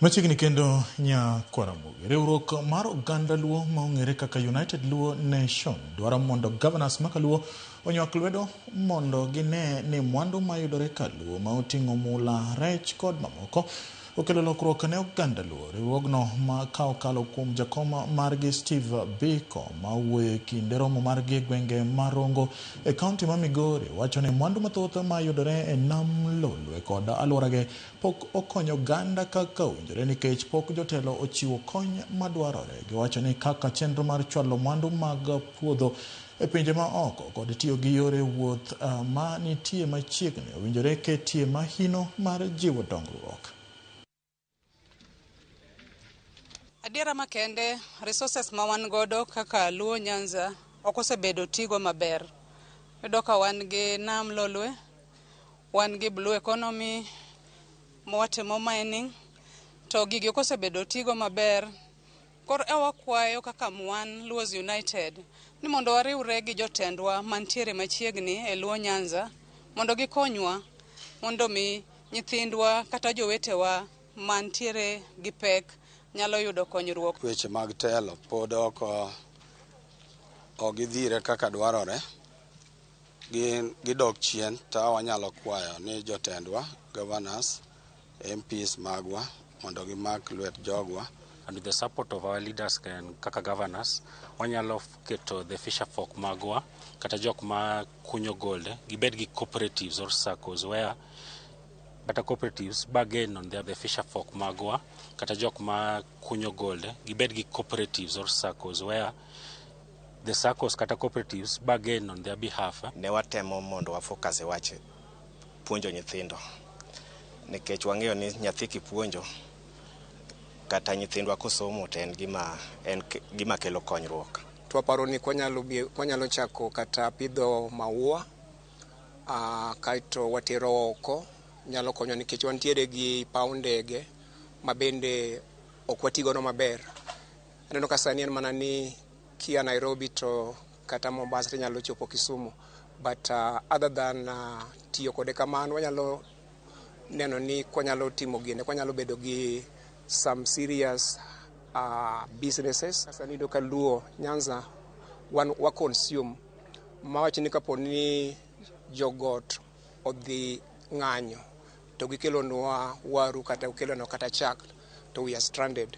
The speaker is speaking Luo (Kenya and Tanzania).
Machiegni kendo nya Kwaramogi, riwruok mar oganda Luo ma ong'ere kaka United Luo Nation dwaro mondo governors ma Kaluo onywak lwedo mondo gine ni mwandu mayudore Kaluo ma oting'o mula, rech kod mamoko Okelo lokruok ne oganda Luo. Riwruogno ma ka okalo kuom jakom margi Steve Biko ma wuoyo e kinde romo margi e gwenge ma Rongo e kaunti ma Migori wacho ni mwandu mathoth ma yudore e nam Lolwe kod alworage pok okonyo oganda kaka owinjore nikech pok jotelo ochiwo kony madwarore. Giwacho ni kaka chenro mar chwalo mwandu mag puodho E pinje ma oko kod tiyo gi yore wuoth ma nitie machiegni owinjore ketie mahino mar jiwo dongruok. Adiera makende, resources ma wan godo kaka Luo Nyanza ok osebedo tigo maber. Iyudo ka wan gi nam Lolwe, wan gi blue economy, mwatimo mining, to gigi ok osebedo tigo maber. Kor e wakwayo kaka Mwan Luos United ni mondo wariwre gi jotendwa mantiere machiegni e Luo Nyanza mondo gikonywa mondo mi nyithindwa kata jowetewa mantiere gi pek nyalo yudo konyruok. Weche mag telo pod ok gidhire kaka dwarore, gidok chien, to wanyalo kwayo ni jotendwa, governors, MPs magwa mondo gimak lwet jogwa. And the support of our leaders can, kaka governors, wanyalo keto the fisher folk magwa kata jok ma kunyo gold gibed gi cooperatives or circles where kata cooperatives bargain on their, the fisher folk magwa kata jok ma kunyo gold gibed gi cooperatives or circles where the circles kata cooperatives bargain on their behalf. Ne watemo mondo wafocus e wach puonjo nyithindo nikech wang'eyo ni nyathi kipuonjo kata nyithindwa kosomo to en gima, en gima kelo konyruok. Twaparo ni kwanyalo, kwanyalo chako kata pidho maua uh, kaeto watero oko nyalo konyo nikech wantiere gi paw ndege ma bende ok watigono maber. Aneno ka sani en mana ni kia Nairobi to kata Mombasa nyalo chopo Kisumu but uh, other than uh, tiyo kode kamano wanyalo neno ni kwanyalo timo gine kwanyalo bedo gi some serious uh, businesses sasa nido ka luo nyanza wan wa consume mawacho ni kapo ni jogot odhi ng'anyo to gikelonwa waru kata gikelonwa kata chak to we are stranded